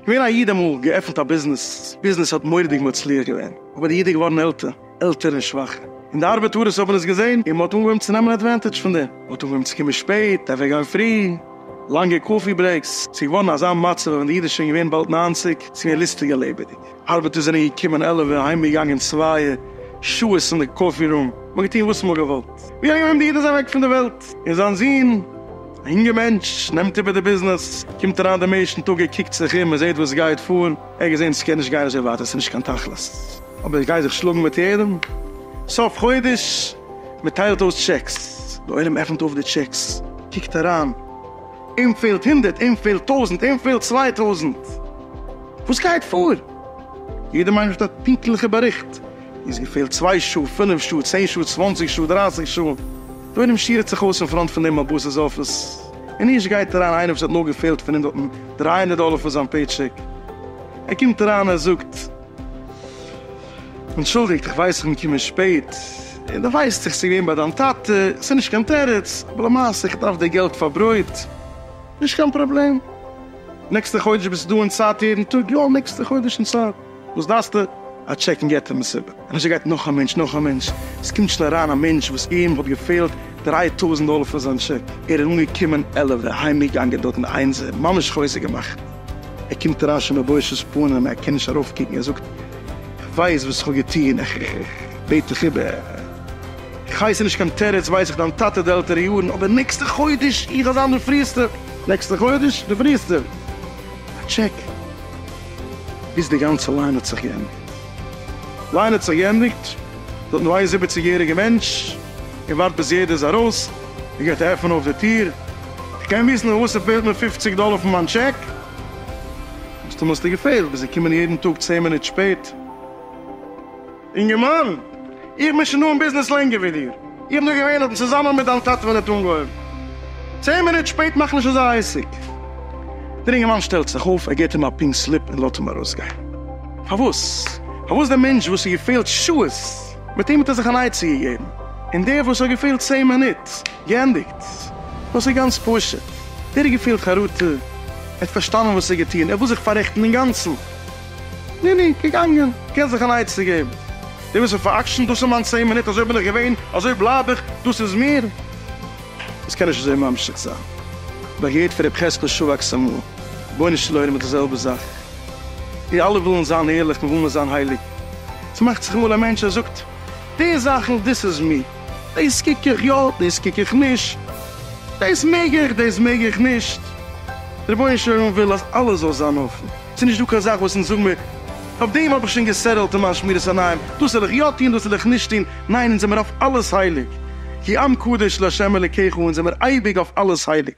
געווען א איד אמאל, געעפנט א ביזנעס, ביזנעס האט מוראדיג מצליח געווען, אבער די איד איז געווארן עלטער, עלטער און שוואכער, און די ארבעטארעס האבן עס געזען, און מען האט אנגעהויבן צו נעמען עדווענטעדזש פון דעם, מען האט אנגעהויבן צו קומען שפעט, אוועק גיין פרי, לאנגע קאפי ברעיקס, ס'איז געווארן אזא מצב אז ווען די איד איז שוין געווען באלד נײַנציק, ס'איז געווען ליסטיגע לעבעדיג. ארבעטער זענען געקומען עלעווע, אהיימגעגאנגען צווייע, שעות אין די קאפי רום, מ'האט געטון וואס מ'האט געוואלט, ווי אהיים, די איד איז אוועק פון די וועלט, און זיין זון, א יונגער מענטש, נעמט איבער די ביזנעס, קומט אריין דעם ערשטן טאג, ער קוקט זיך אום, ער זעט וואס גייט פאר, ער האט געזען ס'קען נישט גיין אזוי ווייטער, ס'נישט קיין תכלית, אבער איך גיי זיך שלאגן מיט יעדעם, סוף חודש, מ'טיילט אויס טשעקס, די עולם עפנט אויף די טשעקס, קוקט אריין. און פעלט הונדערט און פעלט טויזענט און פעלט צוויי טויזענט, וואס גייט פאר? יעדע מיינונג האט א פונקטליכע באריכט, און עס געפעלט צוויי שעה, פינף שעה, צען שעה, צוואנציג שעה, דרייסיג שעה, דורעם שירעט זיך אויס אין פראנט פון דעם מאבוס'ס אפיס, און ערשט גייט אריין איינער וואס האט נאר געפעלט פון הונדערט און דרײַ הונדערט דאלער פאר זיין פעיטשעק, ער קומט אריין ער זאגט. אנטשולדיגט איך ווייס איך בין געקומען שפעט, און דו ווייסט איך ס'געווען ביי דיין טאטע, ס'נישט קיין תירוץ, אבער למעשה איך דארף די געלט פאר ברויט, נישט קיין פראבלעם, נעקסטע חודש ביסטו דא אין צייט יעדן טאג? יא נעקסטע חודש אין צייט, וואס דארפסטו? א טשעק אין געטער מסיבה, און אזוי גייט נאך א מענטש נאך א מענטש, עס קומט שוין אריין א מענטש וואס אים האט געפעלט דריי טויזנט דאלער פאר זיין טשעק, ער איז אנגעקומען עלעווע, אהיימגעגאנגען דארטן איינזער, ממש חוזק געמאכט. ער קומט אריין שוין מיט בושת פנים, ער קען נישט ארויפקוקן, ער זאגט, איך ווייס וואס איך האב געטון, איך בעט דיך איבער, איך ווייס ס'איז נישט קיין תירוץ, ווייס איך דיין טאטע די עלטערע יארן, אבער נעקסטע חודש איך וועל זיין די פריעסטע, נעקסטע חודש די פריעסטע, א טשעק. ביז די גאנצע ליין האט זיך געענדיגט. ליין האט זיך געענדיגט, דארט נאר איין זיבעציג יעריגע מענטש, ער ווארט ביז יעדער איז ארויס, ער גייט עפענען אויף די טיר, כ'קען וויסן פארוואס ס'פעלט מיר פופציג דאלער פון מיין טשעק? מסתמא האסטו געפעלט ביז זיי קומען יעדן טאג צען מינוט שפעט. אינגערמאן, איך בין שוין דא אין ביזנעס לענגער ווי דיר, איך בין דא געווען אט צוזאמען מיט דיין טאטע ווען ער האט אנגעהויבן. צען מינוט שפעט מאכט נישט אזא עסק. דער אינגערמאן שטעלט זיך אויף, ער געבט אים א פינק סליפ און לאזט אים ארויסגיין. פארוואס? פארוואס דער מענטש וואס ס'געפעלט שעות? מיט אים האט ער זיך אן עצה געגעבן, און דער וואס האט געפעלט צען מינוט, געענדיגט, דאס איז גאנץ פשוט, דער האט געפילט חרטה, ער האט פארשטאנען וואס ער האט געטון, ער וויל זיך פאררעכטן אינגאנצן, נו נו, געגאנגען, געבט זיך אן עצה געבן, דער וואס האט פאר'עקשנ'ט, דאס איז מיין צען מינוט, אזוי בין איך געווען, אזוי בלייב איך, דאס איז מיר. עס קען נישט אזוי ממשיך זיין, איך האב געהערט פון ר' חזקאל שואבאקס אמאל, רבונו של עולם איז די זעלבע זאך, מיר אלע ווילן זיין ערליך, מיר ווילן זיין הייליג, ס'מאכט זיך אמאל א מענטש ער זאגט די זאכן דאס איז מי, דאס קוק איך יא דאס קוק איך נישט, דאס מעג איך דאס מעג איך נישט, דער רבונו של עולם וויל אז אלעס זאל זיין אפן, ס'איז נישט דא קיין זאך וואס אונז זאגן מיר אויף דעם האב איך שוין געסעטעלט אין מיין שמירת עיניים, דאס זאל איך יא טון דאס זאל איך נישט טון, ניין אונז זעמיר אויף אלעס הייליג, כי עם קדוש לה' אלקיך אונז זעמיר אייביג אויף אלעס הייליג.